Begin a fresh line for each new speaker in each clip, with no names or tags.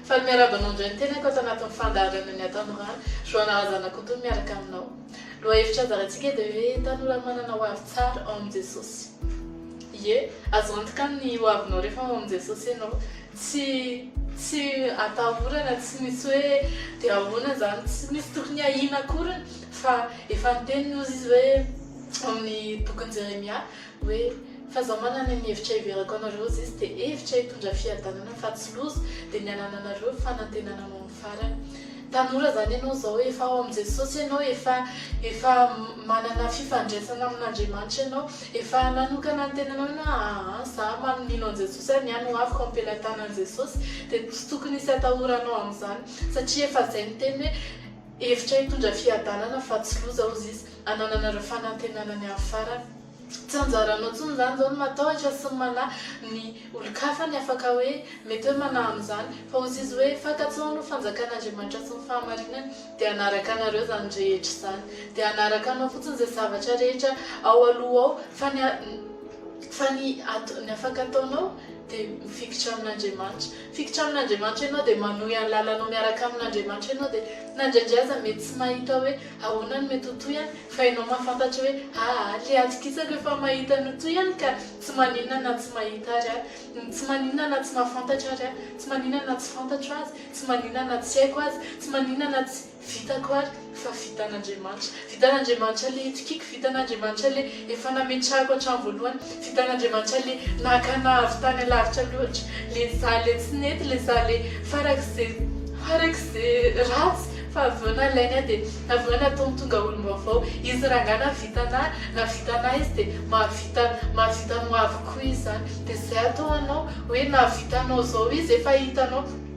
Faly miarahaba anao indray ny tenako ato anatin'ny fandaharana ny Atanora, Joana Razanakoto miaraka aminao. Lohahevitra handaharantsika dia hoe Tanora manana hoavy tsara ao amin'i Jesosy. Ie, azo antoka ny hoavinao rehefa ao amin'i Jesosy ianao. Tsy tsy atahorana, tsy misy hoe dia ahoana izany, tsy misy tokony ahiana akoriny fa efa niteny hozy izy hoe ao amin'ny bokin'i Jeremia, Hoe, fa za manana ny hevitra hiverako anareo zisy de hevitra hitondra fiadanana fa tsy loza de ny anananareo fanantenana ho amin'ny farany. Tanora zany ianao zao efa ao amin'i Jesosy ianao efa efa manana fifandraisana amin'Andriamanitra ianao efa nanokana ny tenanao ianao aa za man mino an'i Jesosy aho ny ahy no avoko ampelatanan'i Jesosy de tsy tokony hisy atahoranao amin'izany satria efa zay ny teny hoe hevitra hitondra fiadanana fa tsy loza hozy izy. Anananareo fanantenana ny hafarany. Tsy anjaranao intsony izany izao ny matahotra sy ny manahy ny olon-kafa ny afaka hoe mety hoe manahy amin'izany. Fa hozy izy hoe, Fakan-tsaho aloha fanjakan'Andriamanitra sy ny fahamarinany, dia hanaraka anareo izany rehetra izany. Dia hanaraka anao fotsiny izay zavatra rehetra ao aloha ao, fa ny fa ny ato ny afaka ataonao dia mifikitra amin'Andriamanitra. Mifikitra amin'Andriamanitra ianao dia manohy ny lalanao miaraka amin'Andriamanitra ianao dia na indraindray aza mety tsy mahita hoe Ahoana no mety ho toy any? Fa ianao mahafantatra hoe aa le atokisako efa mahita ny ho toy any ka! Tsy maninona na tsy mahita ary aho. Tsy maninona na tsy mahafantatra ary aho. Tsy maninona na tsy fantatro aza. Tsy maninona na tsy haiko aza. Tsy maninona na tsy vitako ary. Fa vitan'Andriamanitra. Vitan'Andriamanitra le itokiako. Vitan'Andriamanitra le. Efa nametrahako hatramin'ny voalohany. Tsy hitan'Andriamanitra le nakana avy tany alavitra loatra, le za le tsy nety, le za le farak'ze farak'ze ratsy fa avy eo nalainy aho de avy eo nataony tonga olom-baovao. Izy rangah nahavita anahy, nahavita anahy izy de mahavita mahavita anao avy koa izy zany. De zay atao anao hoe nahavita anao zao izy efa hitanao.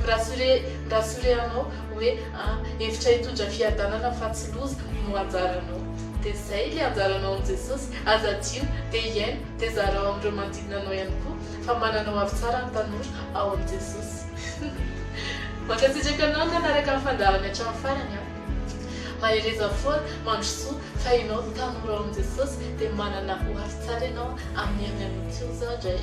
Mirasure mirasure anao hoe a hevitra hitondra fiadanana fa tsy loza no anjaranao de zay le anjaranao amin'i Jesosy aza adio de hiaino de zarao amin'ireo manodidina anao ihany koa fa manana ho avy tsara ny tanora ao amin'i Jesosy Mankasitraka anao nanaraka ny fandaharany hatramin'ny farany a! Mahereza foana mandrosoa fa ianao tanora ao amin'i Jesosy dia manana ho avy tsara ianao amin'ny herin'ny Anon'Ikoza dray.